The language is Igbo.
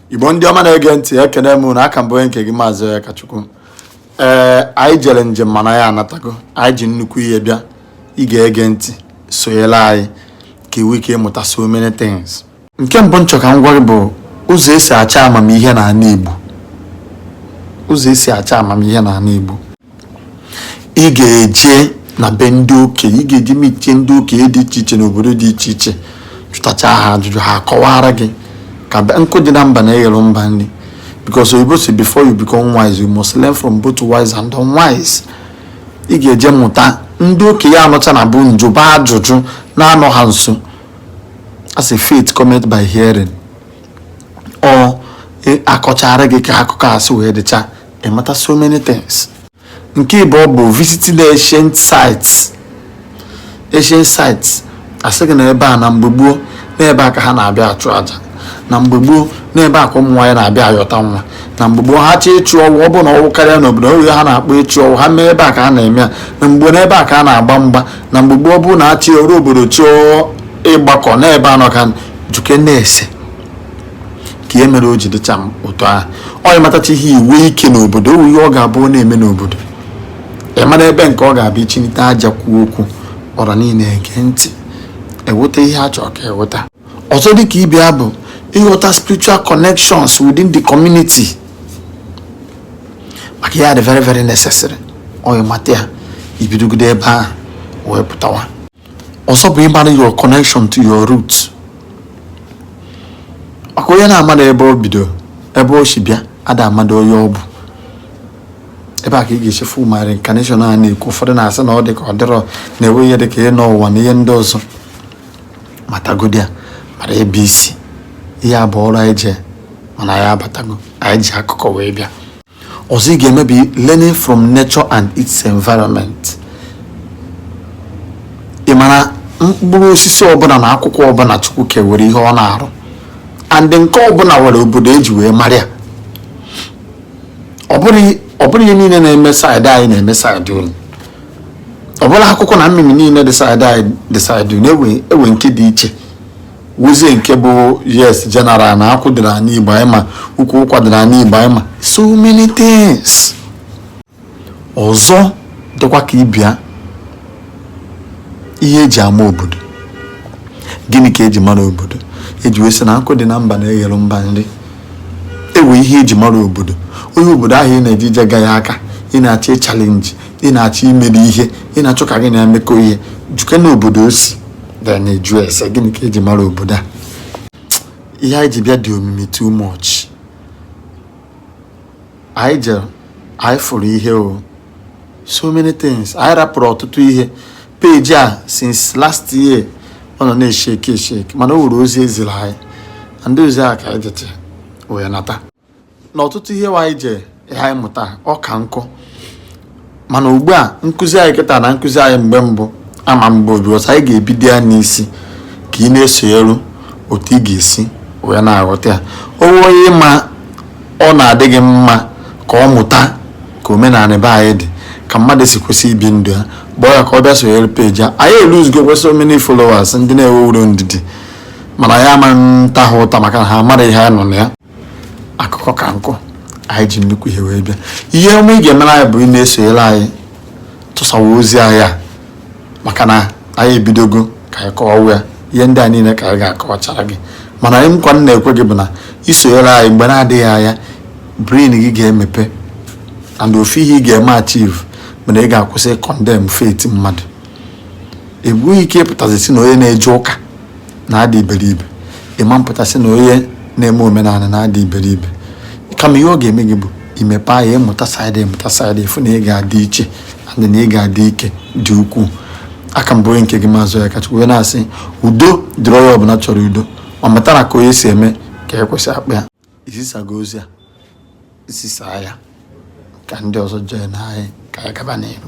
igbo ndị ọma na-ege ntị ekene m unu a ka m bụ onye nke gị maazị akachukwu ee anyị jere njem mana anyị anatago anyị ji nnukwu ihe bịa ị ga-ege ntị sonyere anyị ka i nwee ike ịmụta so many things nke mbụ m chọ ka m gwa gị bụ ụzọ esi achọ amamihe na ana igbo ụzọ esi achọ amamihe na ana igbo ị ga-eje na be ndị okenye ị ga-eje meetie ndị okenye dị iche iche n'obodo dị iche iche jụtacha ha ajụjụ ha akọwara gị ka nkụ dị na mba na eghere mba nri because oyibo si before you become wise you must learn from both wise and unwise ị ga-eje mụta ndị okenye anọcha na bụ njụba ajụjụ na-anọ ha nso as a faith cometh by hearing ọ e, akọchara gị ka akụkọ a si wee dịcha ị mata so many things nke ịbụọ bụ visiting ancient sites ancient sites a sị gị na ebe a na mgbe gboo n'ebe a ka ha na-abịa achụ aja na mgbe gboo n'ebe a ka ụmụ nwaanyị na-abịa ayọta nwa na mgbe gboo ha chọọ ịchụ ọwụ ọ bụrụ na ọwụ karịa n'obodo o nwe ihe ha na-akpọ ịchụ ọwụ ha mee ebe a ka ha na-eme ya na mgbe gboo n'ebe a ka a na-agba mgba na mgbe gboo ọ bụrụ na achị ọrụ obodo chọọ ịgbakọ n'ebe a nọkọ jụkene ese ka ihe mere o ji dịcha m ụtọ ahụ onye matacha ihe i nwee ike n'obodo o nwe ihe ọ ga-abụ ọ na-eme n'obodo ị mara ebe nke ọ ga-abịa ichinite aja kwuo okwu ọra niile ege ntị eweta ihe a chọrọ ka eweta ọzọ dịka ibe ya bụ ịghọta spiritual connections within the community maka ihe a dị very very necessary onye mata ya i bidogide ebe ahụ wee pụtawa ọzọ bụ ịmara your connection to your root maka onye na-amado ebe o bido ebe o si bịa ada amado onye ọ bụ ebe a ka ị ga-esi fụ ma reincarnation a na-ekwu ụfọdụ na-asị na ọ dị ka ọ dịrọ na e nwe ihe dị ka ịnọ ụwa na ihe ndị ọzọ matagodi ya mara ebe i si ihe a bụ ọrụ anyị jee mana anyị abatago anyị ji akụkọ wee bịa ọzọ ị ga-eme bụ learning from nature and its environment ị mara mkpụrụ osisi ọbụla na akwụkwọ ọbụla chukwu ke nwere ihe ọ na-arụ and nke ọbụla nwere obodo eji wee mara ya ọ bụrọ ihe niile na-eme side anyị na-eme side unu ọ bụrọ akwụkwọ na mmịmị niile dị side anyị dị side unu e nwe nke dị iche nwezie nke bụ yes general na akwụ dịrị anị igbo anyị ma ukwu ụkwa dịrị anị igbo anyị ma so many things ọzọ dịkwa ka ị bịa ihe eji ama obodo gịnị ka eji mara obodo eji wee sị na nkụ dị na mba na-eghere mba nri ewe ihe eji mara obodo onye obodo ahụ ị na-eje je gaa aka ị na-achọ ịchallenge ị na-achọ imere ihe ị na-achọ ka gị na-emekọ ihe jụkene obodo o si bịa na-eju ese gịnị ka e ji mara obodo a ihe anyị ji bịa dị omimi too much anyị jere anyị fụrụ ihe o so many things anyị rapụrụ ọtụtụ ihe page a since last year ọ nọ na-esheki esheki mana o nwere ozi e ziri anyị and ozi a ka anyị jete wee nata na ọtụtụ ihe anyị je ihe anyị mụta ọ ka nkụ mana ugbu a nkụzi anyị kịta na nkụzi anyị mgbe mbụ ama mgbe obi ọsọ anyị ga-ebido ya n'isi ka ị na-esonyere otu ị ga-esi wee na-aghọta ya o nwee onye ma ọ na-adị gị mma ka ọ mụta ka omenala be anyị dị ka mmadụ si kwesị ibi ndụ ya gwa ya ka ọ bịa sonyere page a anyị eluzigo kwesị how many followers ndị na-enwerọ ndidi mana ama m ata ha ụta maka na ha mara ihe anyị nọ na ya akụkọ ka nkụ anyị ji nnukwu ihe wee bịa ihe ọma ị ga-emere anyị bụ ị na-esonyere anyị tụsawa ozi anyị a maka na anyị ebidogo ka anyị kọwawa ya ihe ndị a niile ka anyị ga-akọwachara gị ma naanị nkwa m na-ekwe gị bụ na i sonyere anyị mgbe na-adịghị anya brain gị ga-emepe and ofu ihe ị ga-eme achieve bụ na ị ga-akwụsị condemn faith mmadụ i nweghị ike ịpụtazi sị na onye na-eje ụka na-ada iberibe ị ma apụta sị na onye na-eme omenala na-ada iberibe kama ihe ọ ga-eme gị bụ imepe anya ị mụta side ị mụta side ị fụ na ị ga-adị iche adị na ị ga-adị ike dị ukwuu a ka m bụ onye nke gị maazị ya kacha wee na-asị udo dịrị onye ọbụla chọrọ udo ma mata na ka onye si eme ka e kwesị akpa ya i zisago ozi a zisaa ya ka ndị ọzọ jee nụ ya ka anyị gaba n'ihu